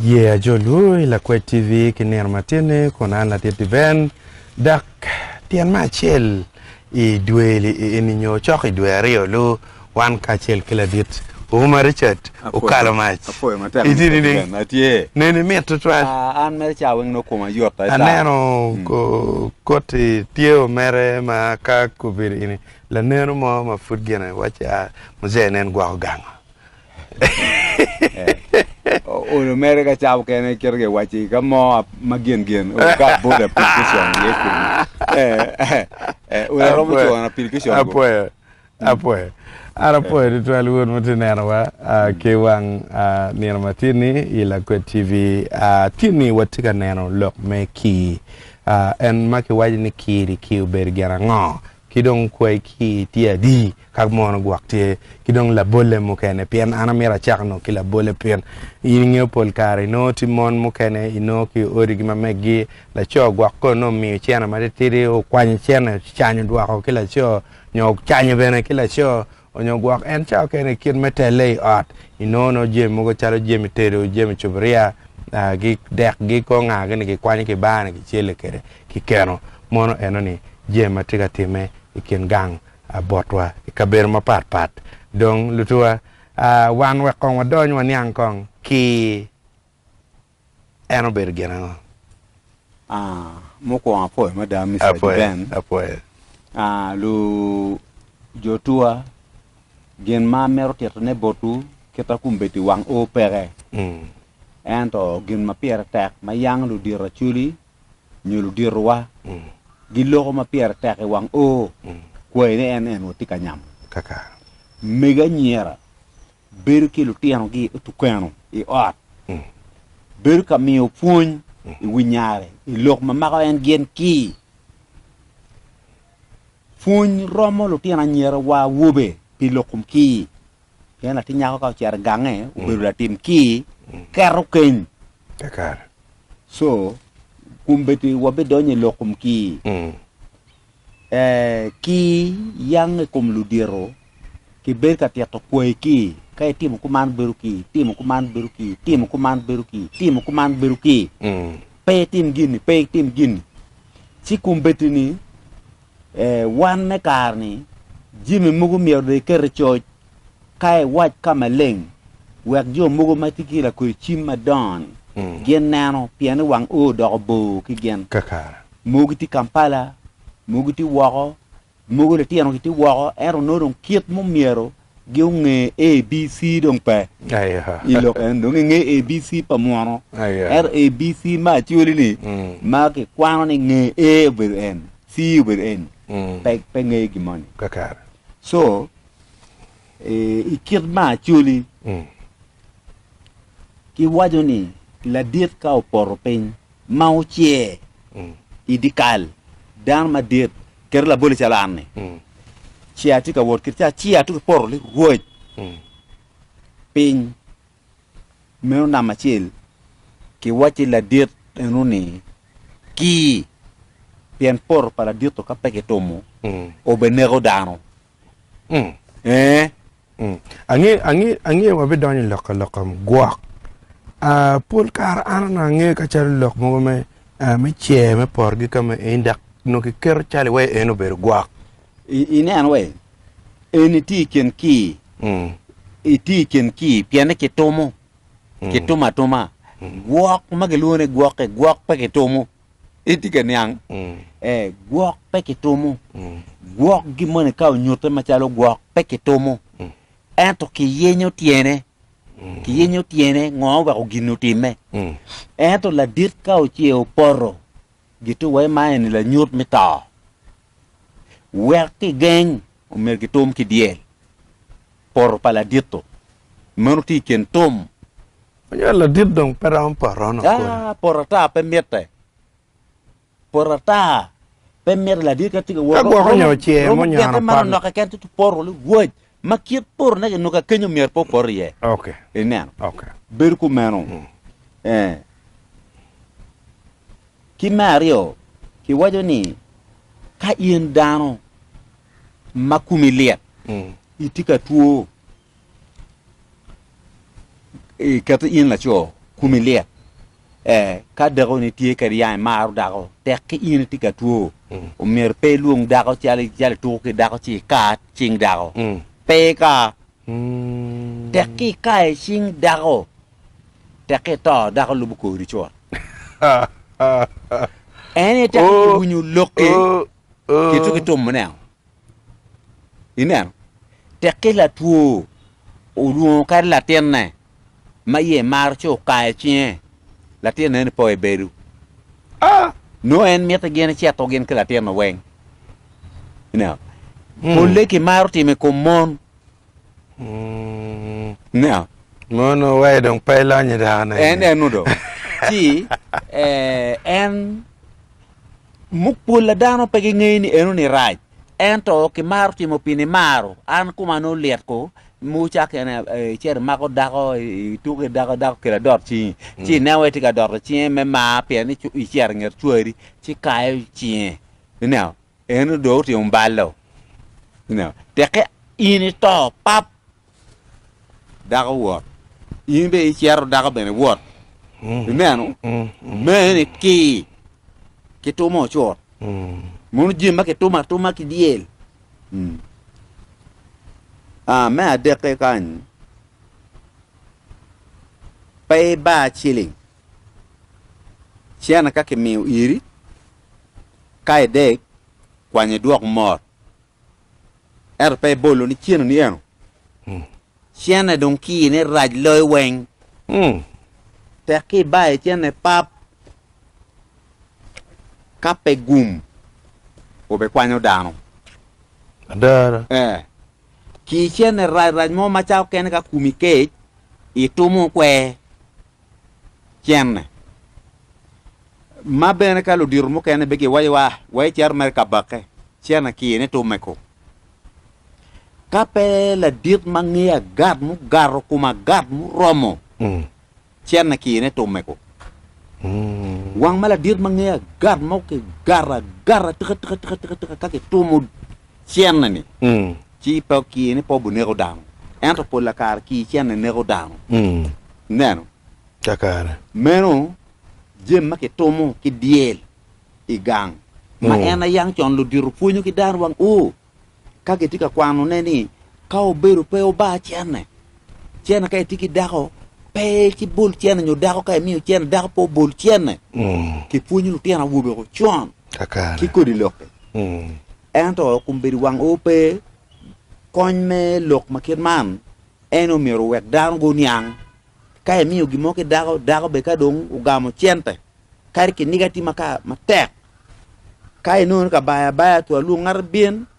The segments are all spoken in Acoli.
Aye ajolwu i Lakwed TV ki nino matinni kun an ladit Diven, dok tyen me acel i dwe-li eni nyo cok i dwe aryo-lu, wan kacel ki ladit Ouma Richard okalo mac i titini. Neni mit tutwal. Aneno koti tye omere ma ka kobedo ini laneno mo ma pud gine wacci a Muzee nen gwoko gango. Olo mere ka cabo kene kito ke waci ka mo ma gen gen o ka bot application ye kodi. Olo romo chuo na application go. Apoyo. Apoyo. An apoyo tutwal wun ma ti neno wa ki wang nino ma tin ni i Lakwed TV. Tin ni wati ka neno lok me kii. En ma ki waci ni kiri kii obedo gin ango? Ki dong kwai ki tye adi ka mono gwok tye ki dong labolle mukene pien an amito acako nongo ki labolle pien in ingeyo pol kare inongo tye mon mukene inongo ki odi gi ma meggi laco gwok kono nongo omiyo cene matitidi okwanyo cene ocanyo dwoko ki laco nyo ocanyo bene ki laco Onyo gwok en cawa kene i kit me telle i ot, i nongo nongo jemi mogo calo jemi tedo, jemi cuburia, gi dek gi kor nga gini gi kwanyo ki bar ni ki celle kwede ki keno. Mono eno ni jemi ma tye ka timme i kin gang botwa i kabedo ma pat pat. Dong lutuwa, wan wek kong wadony waniang kong ki En obedo gin ango? Aa, mukwongo apwoyo mada Mister Apwoyo, Jiben. apwoyo. Aa, lu jotuwa, gin ma amito titone botwu, kita kumbedi wang oo peke. Mm. Ento gin ma pire tek ma yang ludito Acholi nyo luditowa Mm. giloko ma pire tek i wang oo, Mm. kwayine en en watye ka nyamo. Kaka. Mego anyira bedo ki lutinogi otukweno i ot, bedo ka miyo pwony i wi nyare i lok ma mako en gin ki. Pwony romo lutino anyira wa awobe pi lok kom ki, pien latin nyako ka ocito i gange obedo latim ki keto keny. So, kun bedi wa bidonyo i lok kom ki, ee, ki yang i kom ludito. Kibed ka tito kwayi ki, ka itimo kuman bedo ki, itimo kuman bedo ki, itimo kuman bedo ki, itimo kuman bedo ki. Pe itim gini, pe itim gini. Ci kombeddi ni, eh, wan me kare ni jami mogo myero dong iket i coc, ka iwac ka maleng, wek jo mogo ma tye ki lakodi cim madongo ni gin neno, pien ni wang o odoko bor ki gin. Kakare. Mogo gitye Kampala, mogo gitye woko, Mogo litino gitye woko ento nongo dong kit mo myero gi onge ABC dong pe i lok eni dong inge ABC pa munu ento ABC ma actually ni ma ki kwano ni nge A obedo en C obedo en pe nge gi moni so i kit ma actually ki waco ni ladit ka opoto piny ma wucer i dyekal, dano madit kadi laboli calo an-ni, ci atye ka wot kit ci acer ato ki poto ni, Rwot, piny meno nam acel kiwacci ladit eno ni, Ki, pien poto pa ladito ka pe kitumo, obeneko dano. Mm. Ee. Mm. Ange, ange, ange wabidonyo i lok ka lok am gwok. Ah, pol kare an onongo angeyo ka calo lok mogo me, ah, me cer me porgi ka me eni, dok onongo kiketo cal iwa en obedo gwok. I, inen wa, en itye i kin kii, Mm. itye i kin kii, pienne kitumo, Mm. kitumo atuma. Mm. Gwok ma gilwongo ni gwokke, gwok pe kitumo. Itye ka niang? Mm. Eh, gwok pe kitumo. Mm. Gwok gi moni ka onyute macalo gwok pe kitumo. Mm. Ento kiyenyo tyene. Mm. Kiyenyo tyene ngo weko gin otimme. Mm. Ento ladit ka oce opoto, gitu wa ma eni lanyut me to. Wek kigeng, omer kitum ki dyel. Poto pa ladito. Meno tye i kin tum. Anywalo ladit dong pe romo poto ono kodi. Ah, poto ata pe mitte. Poto ata pe mitte ladit ka tye ka wot. Ka gwoko nyo ocer mo nyo ano pat. Noka ken tutu poto li waj. Ma kit poto ne kinoko ka kenyo myero pe opoto iye. Ok. Ineno. Ok. Bedo kumeno. Mm. Eh. Ki me aryo, kiwajo ni ka in dano ma kumi lyet, mm. itye ka two, Iketo in laco kumi lyet. Eh, ka dako ni tye kadi yang imaro dako, tek ki in itye ka two. Mm. Omyero pe ilwong dako calo calo ituko ki dako ci ikaat cing dako. Mm. Pe ika. Mm. Tek ki ikaye cing dako. Tek ki ito dako lubo kodi cot. En ite ki oh, winyo lok ki oh, oh. ki tumo ne. Ineno? Tekki latwo olwongo kadi latinne ma iye maro ci okayo cinge, latinne ni po i bedo. Ah! Nongo en mito gin eceto gin ki latinne weng. Ineno? Polle kimaro timo i kom mon. Now, Mono wai dong pe ilonyo dako na en eni. en udo ci eh, en muk pol a dano pe gingeyo ni eno ni rac ento kimaro timo pi nimaro an koma nongo lit ko mogo cak en eh, icito imako dako i- ituko i dako dako kelo adot cingi ci ineno wai tye ka doto cinge me mar pien ni cu- icito inget cwari ci kayo cinge ineno En odong otimo balo, tekke in ito pap, dako wot, in bene icito dako bene wot. Ineno? Mee ni ki ki tumo ocut. Mono jami ma kitumo atuma ki dyel. Ah, me adekke kany, pe iba ciling cene ka kimiyo iri. Ka idek, kwanyo idwok mot, ento pe ibolo ni ceno ni eno. Cene dong kine rac loyo weng. Tek ki ibaye cene pap. Ka pe gum obe kwanyo dano. Adara. Eh. Ki cene rac rac mo macalo kene ka kumi kec, itumo kwer. cene. Ma bene ka ludito mukene bene giwacowa wa icito mere ka bakke, cene ki ni to meko. Ka pe ladit ma ngeyo agat mugato kom agat muromo, mm. cene ki ni to meko. Mm. Wang ma ladit ma ngeyo agat mo ki gara gara tika tika tika tika tika ka kitumo cenne-ni, ci pe okir ni pe obineko dano. Ento pol la kare kir cenne neko dano. Ineno? Kakare. Meno jami ma kitumo ki dyel i gang, ma en aye yang con ludito pwonyo ki dano wang u ka gitye ka kwanone ni ka obedo pe obar cenne, Cene ka itye ki dako pe kibol cene nyo dako ka imiyo cene dako pe obol cene. Kipwonyo lutino awobe ocon ki kodi lok-ki. Ento kombeddi wang o pe kony me lok ma kit man en omyero owek dano guniang. Ka imiyo gin mo ki dako, dako bene ka dong ogamo cente kadi kiniga tye makato matek ka inongo ni kabaya abaya twalwong ngat bibin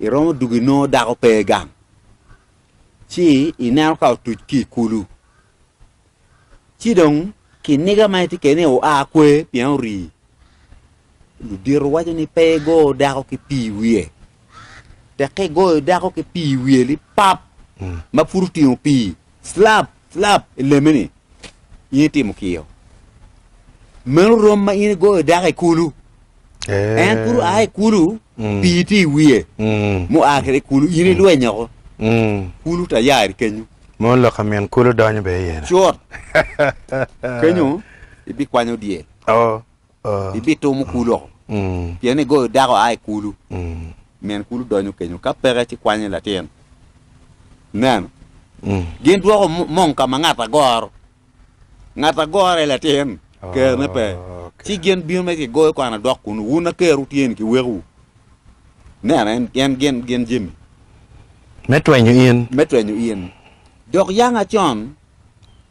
Iromo dwogo inongo dako pe i gang ci ineno ka otuc ki i kulu ci dong kiniga ma itye kwede-ni oa kwer pien orii ludito waco ni pe igo dako ki pii i wiye tek ka igoyo dako ki pii i wiye lipap ma pud otingo pii slap Lab i lemme-ni, in itimo kiyo. Meno rom ma in igoyo dako i kulu. En pud oa i kulu, pii tye i wiye. Mua kwede i kulu, in ilweny oko. Kulu tayari kenyo. Mono lok ka min kulu donyo bene iye-ni. Cut! Kenyo ibikwanyo dyel. Oo. ibito mukulu oko, pien igoyo dako a i kulu, min kulu donyo kenyo, ka peke ci kwanyo latin. Ineno? Gin dwoko mong ka ma ngat agoro, ngat agorre latin, kerone pe, ci gin bino me kigoyo kwano dok kunu, wun a ker wutye-ni ki wekowu. Ineno? En gin, gin jemi. Me twenyo in. Me twenyo in. Dok yanga con.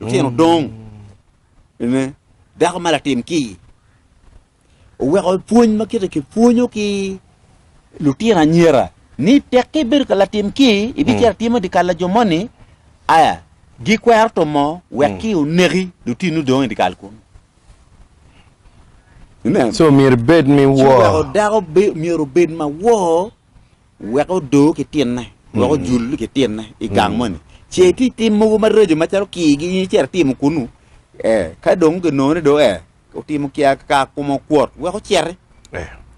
Lutino dong ne dako ma latim ki oweko pwony ma kite ki pwonyo ki lutino anyira ni tek ki bedo ka latim ki ibi cito timo di kal lajo moni aya gi kwero to mo wek ki oneki lutinu dong di kal kun so myero bed mi wo dako myero bed ma wo Wek odo ki tinne, wek ojul ki tinne i gang moni. Ce itye i tim mogo maraco macalo kii gi in icito itimo kunu, ee, ka dong ginongo ni dong ee, otimo kia ka kome okwot, wek ociti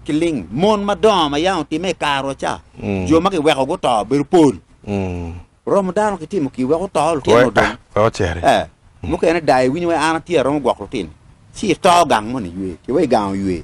ki ling. Mon madongo ma yam otimme i karu ca, jo ma kiweko guto bedo pol. Romo dano kitimo kii wek oto, lutino odong. Ee, mukene dayo iwinyo wai an atye aromo gwoko lutino, ci ito gang moni iywe, ki wai gang oywe.